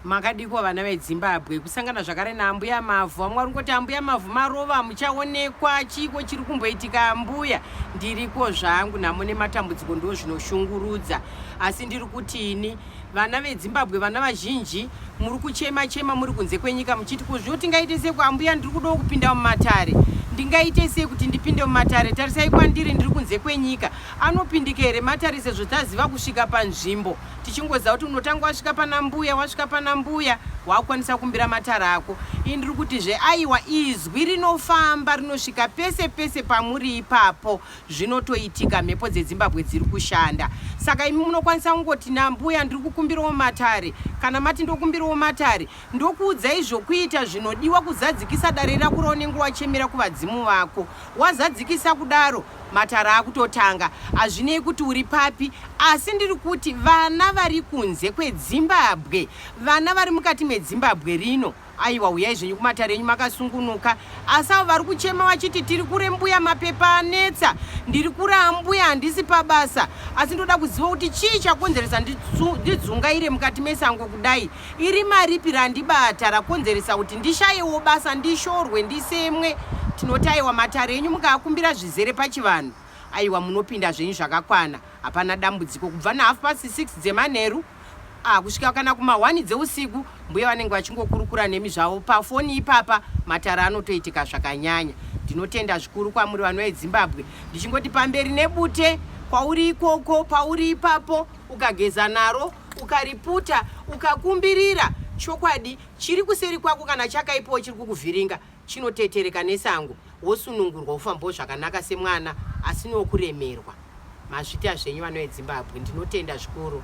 Makadiko vana vedzimbabwe kusangana zvakare naambuya mavhu amwari ngoti ambuya mavhu marova muchaonekwa chiiko chiri kumboitika ambuya ndiriko zvangu nhamo nematambudziko ndo zvinoshungurudza asi ndiri kuti ini vana vedzimbabwe vana vazhinji muri kuchema chema muri kunze kwenyika muchiti kuzviwo tingaite sei kuambuya ndiri kudawo kupinda mumatare ndingaite sei kuti ndipinde mumatare tarisai kwandiri ndiri kunze kwenyika anopindika here matare sezvo taziva kusvika panzvimbo tichingoziva kuti unotanga wasvika pana mbuya wasvika pana mbuya wakukwanisa kumbira matara ako ini ndiri kuti zveaiwa izwi rinofamba rinosvika pese pese pamuri ipapo zvinotoitika mhepo dzedzimbabwe dziri kushanda saka imi munokwanisa kungoti nambuya ndiri kukumbirawo matare kana mati ndokumbirawo matare ndokuudzai zvokuita zvinodiwa kuzadzikisa dare rako raunenge wachemera kuvadzimu vako wazadzikisa kudaro Matare akutotanga hazvinei kuti uri papi asi ndiri kuti vana vari kunze kwedzimbabwe vana vari mukati medzimbabwe rino aiwa huyai zvenyu kumatare enyu makasungunuka asi avo vari kuchema vachiti tiri kure mbuya mapepa anetsa ndiri kure ambuya handisi pabasa asi ndoda kuziva kuti chii chakonzeresa ndidzungaire mukati mesango kudai Irima ripi randibata rakonzeresa kuti ndishayewo basa, ndishorwe, ndisemwe? Tinoti aiwa matare enyu mukaakumbira zvizere pachivanhu, aiwa munopinda zvenyu zvakakwana, hapana dambudziko. Kubva nahalf past six dzemanheru ah, kusvika kana kumahwani dzeusiku mbuya vanenge vachingokurukura nemi zvavo pafoni ipapa, matare anotoitika zvakanyanya. Ndinotenda zvikuru kwamuri vanhu veZimbabwe, ndichingoti pamberi nebute kwauri ikoko, pauri ipapo, ukageza naro. ukariputa ukakumbirira chokwadi chiri kuseri kwako kana chakaipawo chiri kukuvhiringa chinotetereka nesango wosunungurwa ufambawo zvakanaka semwana asinokuremerwa mazvita zvenyu vanoedzimbabwe ndinotenda zvikuru